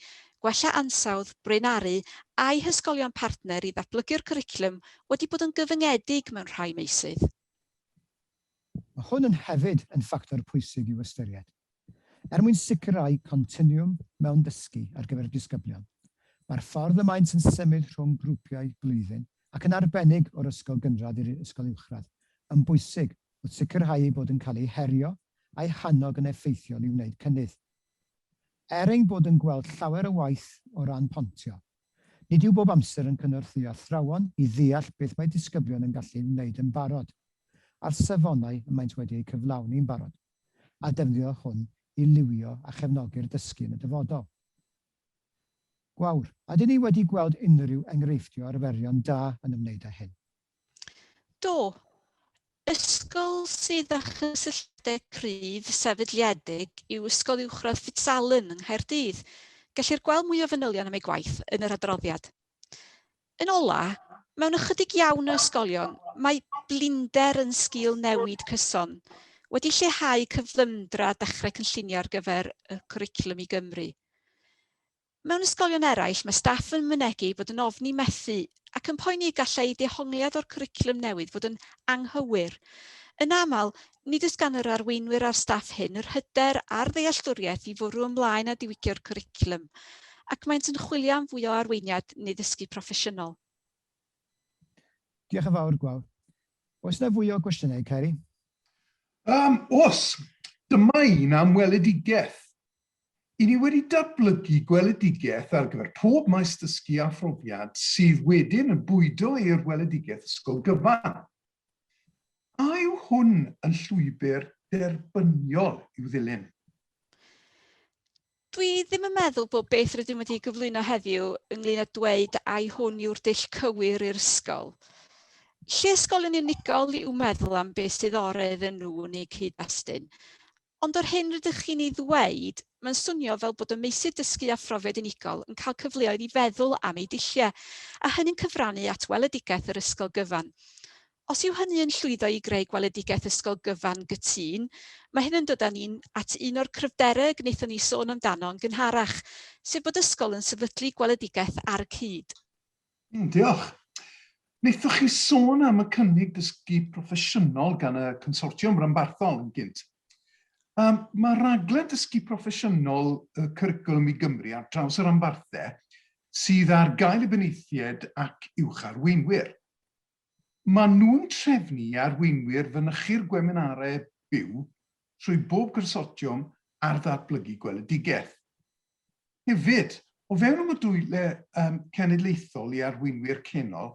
gwella ansawdd, braenaru a'u hysgolion partner i ddatblygu'r cwricwlwm wedi bod yn gyfyngedig mewn rhai meysydd. Mae hwn yn hefyd yn ffactor pwysig i'w ystyried. Er mwyn sicrhau continwwm mewn dysgu ar gyfer disgyblion, mae'r ffordd y maent yn symud rhwng grwpiau blwyddyn, ac yn arbennig o'r ysgol gynradd i'r ysgol uwchradd, yn bwysig wrth sicrhau eu bod yn cael eu herio a'i hannog yn effeithiol i wneud cynnydd. Er ein bod yn gweld llawer o waith o ran pontio, nid yw bob amser yn cynorthwyo athrawon i ddeall beth mae disgyblion yn gallu ei wneud yn barod, a'r safonau y maent wedi eu cyflawni'n barod, a defnyddio hwn i liwio a chefnogi'r dysgu yn y dyfodol. Gwawr. Ydyn ni wedi gweld unrhyw enghreifftiau o arferion da yn ymwneud â hyn? Do, ysgol sydd â chysylltiadau cryf sefydliedig yw Ysgol Uwchradd Fitzallen yng Nghaerdydd. Gellir gweld mwy o fanylion am ei gwaith yn yr adroddiad. Yn ola, mewn ychydig iawn o ysgolion, mae blinder yn sgil newid cyson, wedi lleihau cyflymdra dechrau cynllunio ar gyfer y cwricwlwm i Gymru. Mewn ysgolion eraill, mae staff yn mynegi bod yn ofni methu ac yn poeni y gallai dehongliad o'r cwricwlwm newydd fod yn anghywir. Yn aml, nid oes gan yr arweinwyr a'r staff hyn yr hyder a'r ddealltwriaeth i fwrw ymlaen â diwygio'r cwricwlwm, ac maent yn chwilio am fwy o arweiniad neu ddysgu proffesiynol. Diolch yn fawr, Gwawr. Oes yna fwy o gwestiynau, Ceri? Yym, oes. Dyma un am weledigaeth. I ni wedi datblygu gweledigaeth ar gyfer pob maes dysgu a phrofiad sydd wedyn yn bwydo i'r weledigaeth ysgol gyfan. A yw hwn yn llwybr derbyniol i'w ddilyn? Dwi ddim yn meddwl bod beth rydym wedi gyflwyno heddiw ynglyn â dweud ai hwn yw'r dull cywir i'r ysgol. Lle ysgol yn unigol i'w meddwl am beth sydd o'r iddyn nhw yn eu cyd-destun, Ond yr hyn rydych chi'n ei ddweud, mae'n swnio fel bod y meysydd dysgu a phrofiad unigol yn cael cyfleoedd i feddwl am eu dulliau, a hynny'n cyfrannu at weledigaeth yr ysgol gyfan. Os yw hynny yn llwyddo i greu gweledigaeth ysgol gyfan gytûn, mae hyn yn dod â ni at un o'r cryfderau y gwnaethon ni sôn amdano yn gynharach, sef bod ysgol yn sefydlu gweledigaeth ar y cyd. Mm, diolch. Wnaethoch chi sôn am y cynnig dysgu proffesiynol gan y consortiwm ranbarthol yn gynt. Um, mae raglen dysgu proffesiynol y cwricwlwm i Gymru ar draws yr anfarthau sydd ar gael i benaethiaid ac uwch arweinwyr. Maen nhw'n trefnu i arweinwyr fynychu'r gweminarau byw trwy bob Consortiwm ar Ddatblygu Gweledigaeth. Hefyd, o fewn y modiwlau cenedlaethol i arweinwyr canol,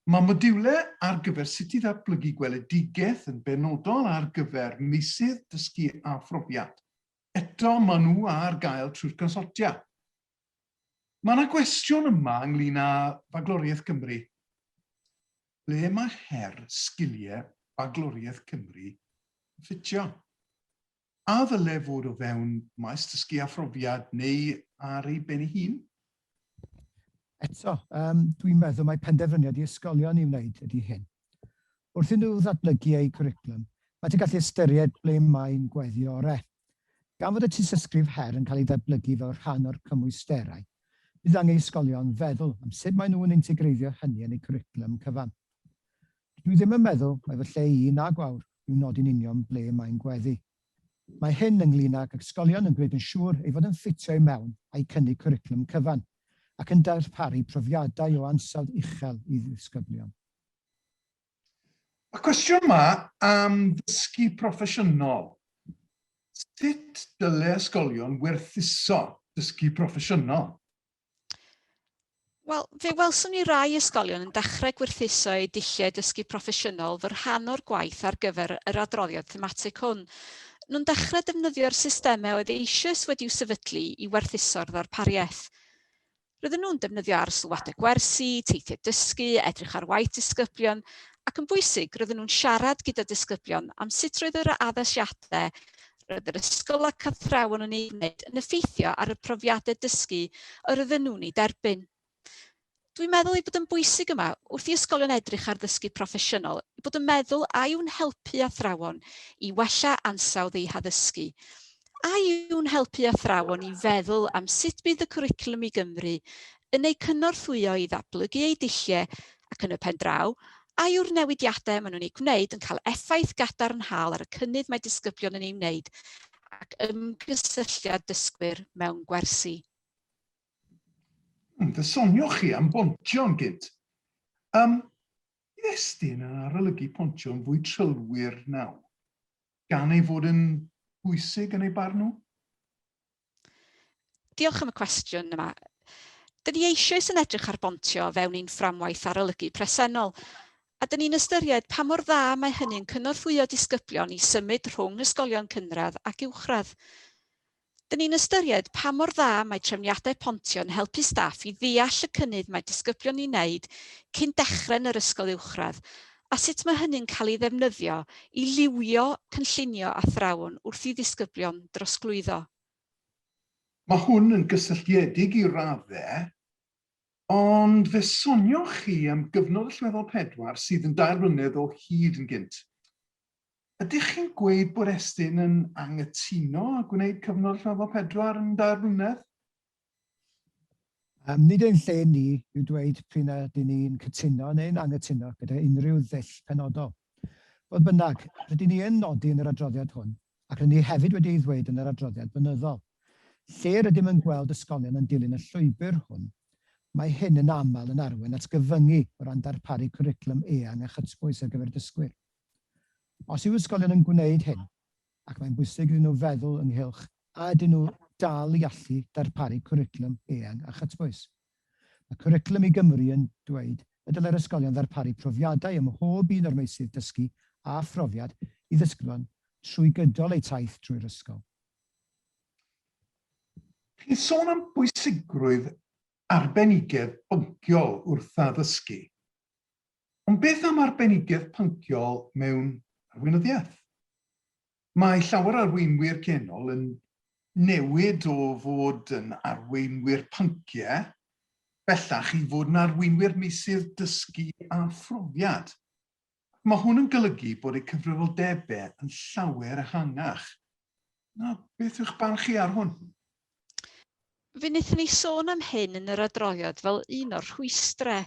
mae modiwlau ar gyfer sut i ddatblygu gweledigaeth yn benodol ar gyfer meysydd dysgu a phrofiad. Eto, maen nhw ar gael trwy'r Consortia. Mae yna gwestiwn yma ynglyn â Bagloriaeth Gymru. Ble mae her sgiliau Bagloriaeth Cymru yn ffitio? A ddyle fod o fewn maes dysgu a phrofiad neu ar ei ben ei hun? Eto, um, dwi'n meddwl mae penderfyniad i ysgolion i wneud ydy hyn. Wrth i nhw ddatblygu eu cwricwlwm, maent yn gallu ystyried ble mae'n gweddio orau. Gan fod y tystysgrif her yn cael ei datblygu fel rhan o'r cymwysterau, bydd angen i ysgolion feddwl am sut maen nhw'n integreiddio hynny yn eu cwricwlwm cyfan. Dydw i ddim yn meddwl mai fy lle i, na gwawr, yw nodi'n union ble mae'n gweddu. Mae hyn ynglŷn ag ysgolion yn gwneud yn siŵr ei fod yn ffitio i mewn a'u cynnig cwricwlwm cyfan, ac yn darparu profiadau o ansawdd uchel i ddisgyblion. Y cwestiwn yma am ddysgu proffesiynol. Sut dyle ysgolion werthuso dysgu proffesiynol? Wel, fe welson ni rai ysgolion yn dechrau gwerthuso eu dulliau dysgu proffesiynol fy rhan o'r gwaith ar gyfer yr adroddiad thematig hwn. Nhw'n dechrau defnyddio'r systemau oedd eisoes wedi'u sefydlu i werthuso'r ddarpariaeth. Roedden nhw'n defnyddio ar sylwadau gwersi, teithiau dysgu, edrych ar waith disgyblion, ac yn bwysig, roedden nhw'n siarad gyda disgyblion am sut roedd yr addasiadau roedd yr ysgol ac athrawon yn ei wneud yn effeithio ar y profiadau dysgu yr oedden nhw'n ei derbyn. Dwi'n meddwl ei bod yn bwysig yma, wrth i ysgolion edrych ar ddysgu proffesiynol, ei bod yn meddwl a yw'n helpu athrawon i wella ansawdd eu haddysgu, A yw'n helpu athrawon i feddwl am sut bydd y cwricwlwm i Gymru yn eu cynorthwyo i ddatblygu eu dulliau ac yn y pen draw, a yw'r newidiadau maen nhw'n eu gwneud yn cael effaith gadarnhaol ar y cynnydd mae disgyblion yn ei wneud ac ymgysylltiad dysgwyr mewn gwersi? Hmm, fe sonioch chi am bontio'n gynt. Um, Estyn yn arolygu pontio'n fwy trylwyr nawr. gan ei fod yn bwysig yn ei barn nhw? Diolch am y cwestiwn yma. Dyn ni eisoes yn edrych ar bontio fewn ein fframwaith arolygu presennol, a dyn ni'n ystyried pa mor dda mae hynny'n cynorthwyo disgyblion i symud rhwng ysgolion cynradd ac uwchradd. Dyn ni'n ystyried pa mor dda mae trefniadau pontio yn helpu staff i ddeall y cynnydd mae disgyblion yn ei wneud cyn dechrau yn yr ysgol uwchradd a sut mae hynny'n cael ei ddefnyddio i liwio cynllunio athrawon wrth i ddisgyblion drosglwyddo. Mae hwn yn gysylltiedig i raddau, ond fe sonioch chi am gyfnod allweddol pedwar sydd yn dair blynedd o hyd yn gynt. Ydych chi'n gweud bod Estyn yn anghytuno â gwneud cyfnod rhyfel pedwar yn dair blynedd? Nid ein lle ni yw dweud p'un a ydyn ni'n cytuno neu'n anghytuno gyda unrhyw ddull penodol. Fodd bynnag, rydyn ni yn nodi yn yr adroddiad hwn, ac rydyn ni hefyd wedi ei ddweud yn yr adroddiad blynyddol, lle rydym yn gweld ysgolion yn dilyn y llwybr hwn, mae hyn yn aml yn arwain at gyfyngu o ran darparu cwricwlwm eang a chytbwys ar gyfer dysgwyr. Os yw ysgolion yn gwneud hyn, ac mae'n bwysig iddyn nhw feddwl ynghylch a ydyn nhw dal i allu darparu cwricwlwm eang a chytbwys. Mae Cwricwlwm i Gymru yn dweud y dylai'r ysgolion ddarparu profiadau ym mhob un o'r meysydd dysgu a phrofiad i ddysgwron trwy gydol eu taith drwy'r ysgol. Chi'n sôn am bwysigrwydd arbenigedd bynciol wrth addysgu. Ond beth am arbenigedd pynciol mewn arweinyddiaeth? Mae llawer o arweinwyr genol yn newid o fod yn arweinwyr pynciau bellach i fod yn arweinwyr meysydd dysgu a phrofiad. Mae hwn yn golygu bod eu cyfrifoldebau yn llawer ehangach Na, beth yw'ch barn chi ar hwn? Fe wnaethon ni sôn am hyn yn yr adroddiad fel un o'r rhwystrau.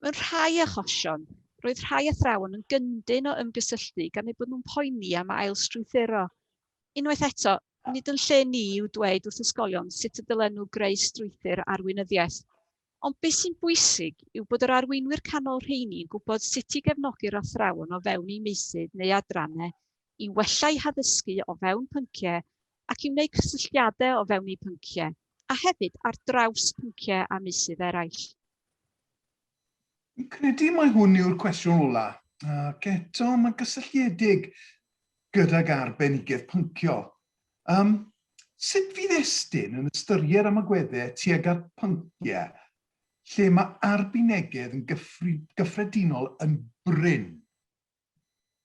Mewn rhai achosion, roedd rhai athrawon yn gyndyn o ymgysylltu gan eu bod nhw'n poeni am ail-strwythuro. Unwaith eto, nid yn lle ni yw dweud wrth ysgolion sut y dylen nhw greu strwythur arweinyddiaeth. Ond beth sy'n bwysig yw bod yr arweinwyr canol rheini yn gwybod sut i gefnogi'r athrawon o fewn eu meysydd neu adrannau i wella eu haddysgu o fewn pynciau ac i wneud cysylltiadau o fewn eu pynciau, a hefyd ar draws pynciau a meysydd eraill. Fi'n credu mai hwn yw'r cwestiwn ola, ac eto mae'n gysylltiedig gydag arbenigedd pynciol. Um, sut fydd Estyn yn ystyried am agweddau tuag at pynciau lle mae arbenigedd yn gyffredinol yn brin?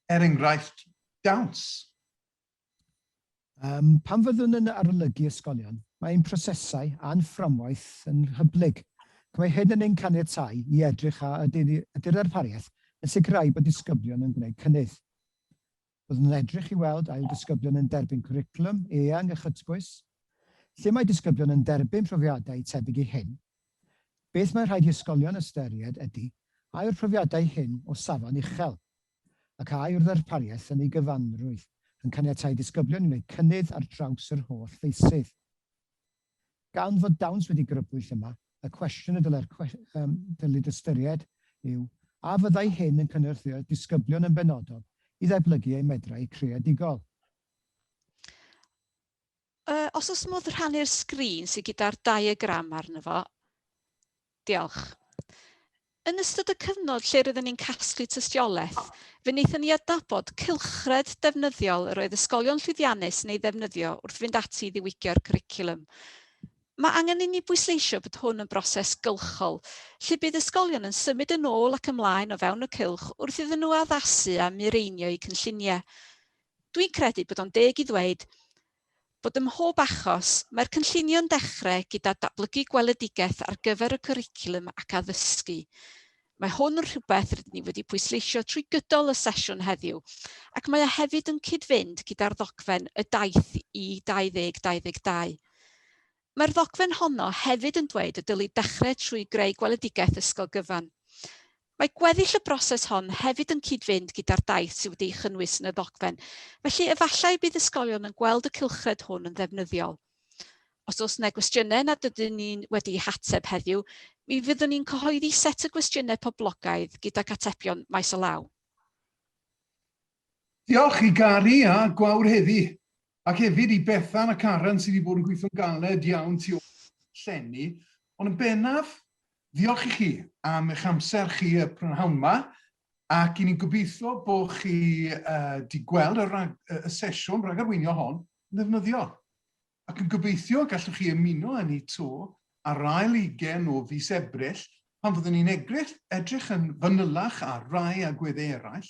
Er enghraifft, dawns. Um, pan fyddwn yn arolygu ysgolion, mae ein prosesau a'n fframwaith yn hyblyg. Mae hyn yn ein caniatau i edrych a ydy'r arpariaeth yn sicrhau bod disgyblion yn gwneud cynnydd. Byddwn yn edrych i weld ail ddisgyblion yn derbyn cwricwlwm eang a chytbwys, lle mae disgyblion yn derbyn profiadau tebyg i hyn. Beth mae rhaid i ysgolion ystyried ydy a yw'r profiadau hyn o safon uchel, ac a yw'r ddarpariaeth yn ei gyfanrwydd yn caniatáu disgyblion i wneud cynnydd ar draws yr holl feysydd. Gan fod dawns wedi grybwyll yma, y cwestiwn y dylai'r Cyllid ystyried yw, a fyddai hyn yn cynorthwyo'r disgyblion yn benodol i ddeblygu eu medrau creadigol? Os oes modd rhannu'r sgrin sydd gyda'r diagram arno fo. Diolch. Yn ystod y cyfnod lle roeddwn ni'n casglu tystiolaeth, fe wnaethon ni adnabod cylchred defnyddiol yr oedd ysgolion llwyddiannus yn ei ddefnyddio wrth fynd ati i ddiwygio'r cwricwlwm. Mae angen inni bwysleisio bod hwn yn broses gylchol, lle bydd ysgolion yn symud yn ôl ac ymlaen o fewn y cylch wrth iddyn nhw addasu a mireinio eu cynlluniau. Dwi'n credu bod o'n deg i ddweud Bod ym mhob achos, mae'r cynllunio'n dechrau gyda datblygu gweledigaeth ar gyfer y cwricwlwm ac addysgu. Mae hwn yn rhywbeth rydyn ni wedi pwysleisio trwy gydol y sesiwn heddiw, ac mae o hefyd yn cyd-fynd gyda'r ddogfen Y Daith i 2022. Mae'r ddogfen honno hefyd yn dweud y dylid dechrau trwy greu gweledigaeth ysgol gyfan. Mae gweddill y broses hon hefyd yn cyd-fynd gyda'r daith sydd wedi'i chynnwys yn y ddogfen, felly efallai y bydd ysgolion yn gweld y cylchred hwn yn ddefnyddiol. Os oes 'na gwestiynau nad ydyn ni wedi'u hateb heddiw, mi fyddwn ni'n cyhoeddi set o gwestiynau poblogaidd gydag atebion maes o law. Diolch i Gary a Gwawr heddi, ac hefyd i Bethan a Karen sydd wedi bod yn gweithio'n galed iawn tu ôl llenni, ond yn bennaf, ddiolch i chi am eich amser chi y prynhawn ma, ac i ni'n gobeithio bo chi wedi gweld y rhag, y sesiwn rhagarweinio hon yn ddefnyddiol, ac yn gobeithio y gallwch chi ymuno â ni 'to ar ail ugain o fis Ebrill pan fyddwn ni'n edrych yn fanylach ar rai agweddau eraill,